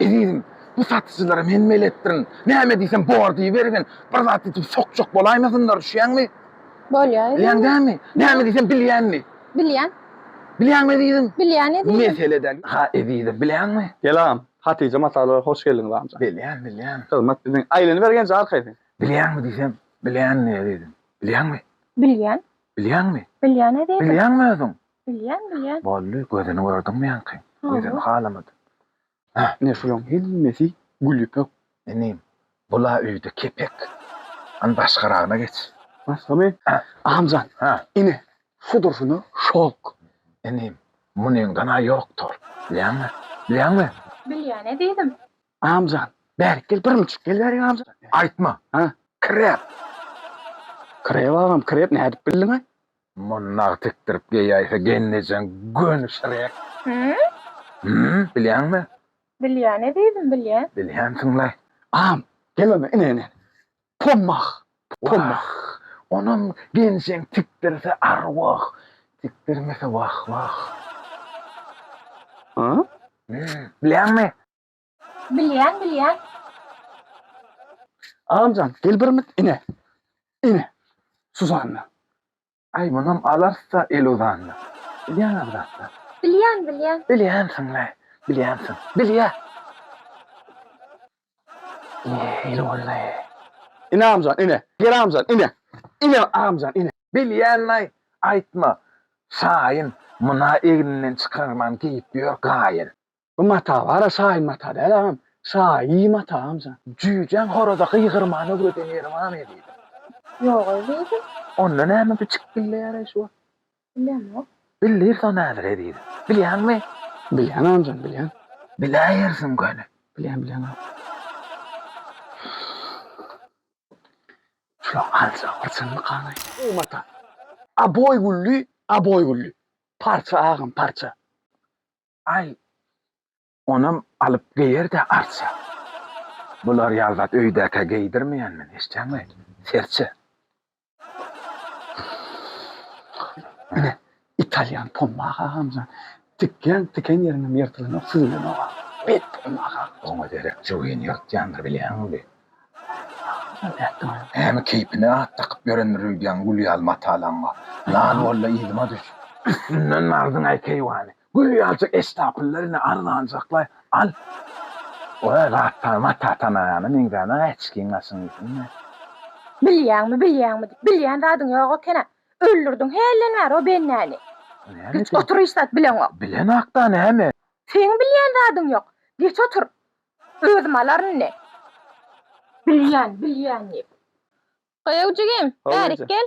Ezizim, bu satyjylara men beletdirin. Näme diýsem bor diýibergin. Bir zat diýdim sokjak bolaýmasynlar, düşýäňmi? Bolýar ezizim. Bilýäň dälmi? Näme diýsem bilýänmi? Bilýän. Bilýäňmi ezizim? Bilýän ezizim. Mesele däl. Ha ezizim, bilýäňmi? Gel agam, Hatyja masalara hoş geldiňiz agam. Bilýän, bilýän. Hyzmat biziň. Aýlanybergenje arkaýyn. Bilýäňmi diýsem, bilýänmi ezizim? Bilýäňmi? Bilýän. Bilýäňmi? Bilýän ezizim. Bilýäňmi özüň? Bilýän, bilýän. Boldy, gözüni gördüňmi ýaňky? Gözüni halamadym. Heh, ine şulaň hemmesi gül ýüpek. Inim, bul-a öýde kepek. Hany başgaragyna geç. Başgamy? Agamjan, ine, şu durşuna şok. Inim, munyňdan-a ýokdur. Bilýäňmi? Bilýäňmi? Bilýän, ezizim. Agamjan, bärik gel, bir müçük gel bärik agamjan. Aýtma. Krep. Krep agam, krep nädip bildiň-aý? Muny nagt tikdirip geýäýse gennejeň gönüşiräk. Hümm? Hümm, bilýäňmi? Bilýän, ezizim, bilýän. Bilýänsiň-laý. Am, gel onda, ine-ine. Pommah, pommah. Onam genjeň tikdirse arwah, tikdirmese wah-wah. Hümm, bilýäňmi? Bilýän, bilýän. Agamjan, gel bir mit ine. Ine. Suzanna. Aý, munam alarys-da el uzanda. Bilýän agzapda. Bilýän, bilýän. Bilýänsiň-le, bilýänsiň. Bilýä. Ine, el boldy. Ine agamjan, ine. Gel agamjan, ine. Ine agamjan, ine. Bilýän-laý, aýtma. Şaýyn, muna egninden çykarman geýip ýör gaýyn. Bu mata bara şaýy mata däl agam. Şaýy mata amca. Jüýjäň horaza gygyrmany öwreden ýeri barmy diýdi. Ýogaý diýdim. Onda näme bu çyk gilleýäreý şu wagt. Bilemok. Bildirýs onda häzire diýdi. Bilýäňmi? Bilýän amjam bilýän. Biläýersiň göni. Bilýän bilýän agam. Şulaň aljy bir çynlykanaý. Bu mata. Aboý gülli, aboý gülli. Parça agam parça. Aý, onam alyp geýer-dä arça. Bular ýaly zat öýdäkä geýdirmeýän men, eşitýäňmi? Serçe. Ine, italýan Pomma aga agamjan, tikýäň, tiken ýeriňem ýyrtylanok, süzülenok-a. Beýik Pomma aga. Oňa derek jübini ýyrtýandyr, bilýäňmi? Agamjan, ätdiň-ä. Hä, keýpine at dakyp ýörendir öýdýän gül ýaly matalaň bar. Lal bol-da, yzyma düş. Üstünden aldyň-aý keýwany. Gül ýaljak estapylla ine arzanjaklaý al. Oýa zatdan mata tanaýana meňzänok äçkiň gaşyň üstünde. Bilýäňmi bilýäňmi diýip bilýän zadyň ýok ekena öldürdiň hälden bäri o bennäni. Geç otur hiç zat bileňok. Bilenokda näme. Seň bilýän zadyň ýok geç otur özüm alaryn indi. Bilýän bilýän diýip. Goýaw jigim bärik gel.